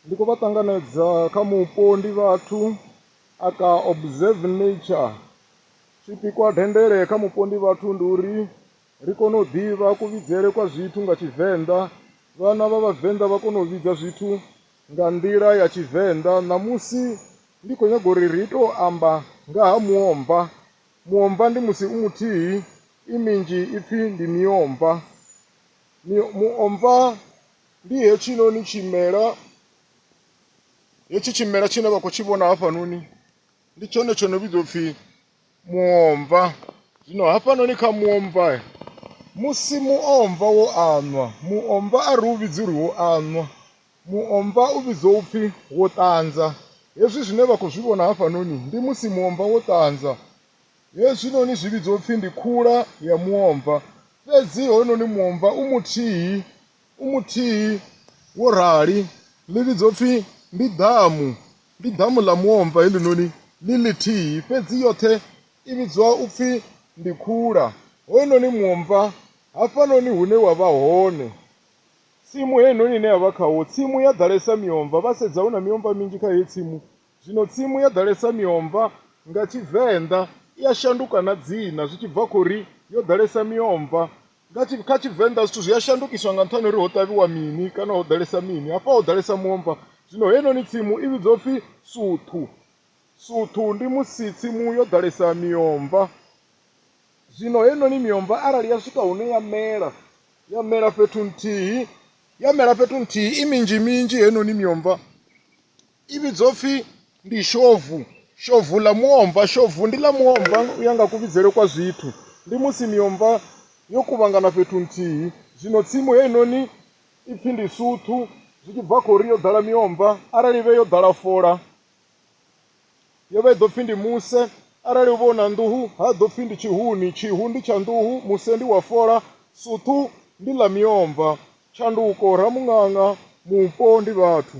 ndi khou vha ṱanganedza kha mupo ndi vhathu a ka observe nature tshipikwa dendele kha mupo ndi vhathu ndi uri ri kone u ḓivha kuvhidzele kwa zwithu nga tshivenḓa vhana vha vhavenḓa vha kone u vhidza zwithu nga nḓila ya tshivenḓa ṋamusi ndi khou nyaga uri ri tou amba nga ha muomva muomva ndi musi u muthihi i minzhi ipfhi ndi miomva muomva ndi hetshinoni tshimela hetshi tshimela tshine vha khou tshi vhona hafhanoni ndi tshone tsho no vhidzwa upfhi muomva zwino hafhanoni kha muomva musi muomva wo anwa muomva a ri u vhidzi uri wo anwa muomva u vhidzwa upfhi wo ṱanza hezwi zwine vha khou zwi vhona hafhanoni ndi musi muomva wo ṱanza Hezwinoni zwi vhidzwa upfi ndi khula ya muomva, fhedzi hoyunoni muomva u muthihi, u muthihi wo rali. Ḽi vhidzwa upfi ndi ḓamu, ndi ḓamu ḽa muomva heḽinoni ḽi ḽithihi, fhedzi yoṱhe i vhidzwa upfi ndi khula. Hoyunoni muomva, hafhanoni hune wa vha hone, tsimu heinoni ine ya vha khawo, tsimu ya ḓalesa miomva, vha sedza hu na miomva minzhi kha heyi tsimu, Zwino tsimu yo ḓalesa miomva, nga Tshivenḓa, i a shanduka na dzina zwi tshi bva kha uri yo ḓalesa miomva. Nga tshi, kha Tshivenḓa zwithu zwi a shandukiswa nga nṱhani ha uri ho ṱavhiwa mini kana ho ḓalesa mini. Hafha ho ḓalesa muomva, zwino heinoni tsimu i vhidzwa upfi Suthu. Suthu ndi musi tsimu yo ḓalesa miomva. Zwino heinoni miomva arali ya swika hune ya mela, ya mela fhethu nthihi, ya mela fhethu nthihi i minzhi minzhi heinoni miomva, i vhidzwa upfhi ndi shovu shovu ḽa muomva shovu ndi ḽa muomva u ya nga kuvhidzele kwa zwithu ndi musi miomva yo kuvhangana fhethu nthihi zwino tsimu heinoni ipfhi ndi suthu zwi tshi bva kha uri yo ḓala miomva arali vhe yo ḓala fola yo vha i ḓo pfhi ndi muse arali u vha u na nḓuhu ha ḓo pfhi ndi tshihuni tshihu ndi tsha nḓuhu muse ndi wa fola suthu ndi ḽa miomva tshanduko ramuṅaṅa mupo ndi vhathu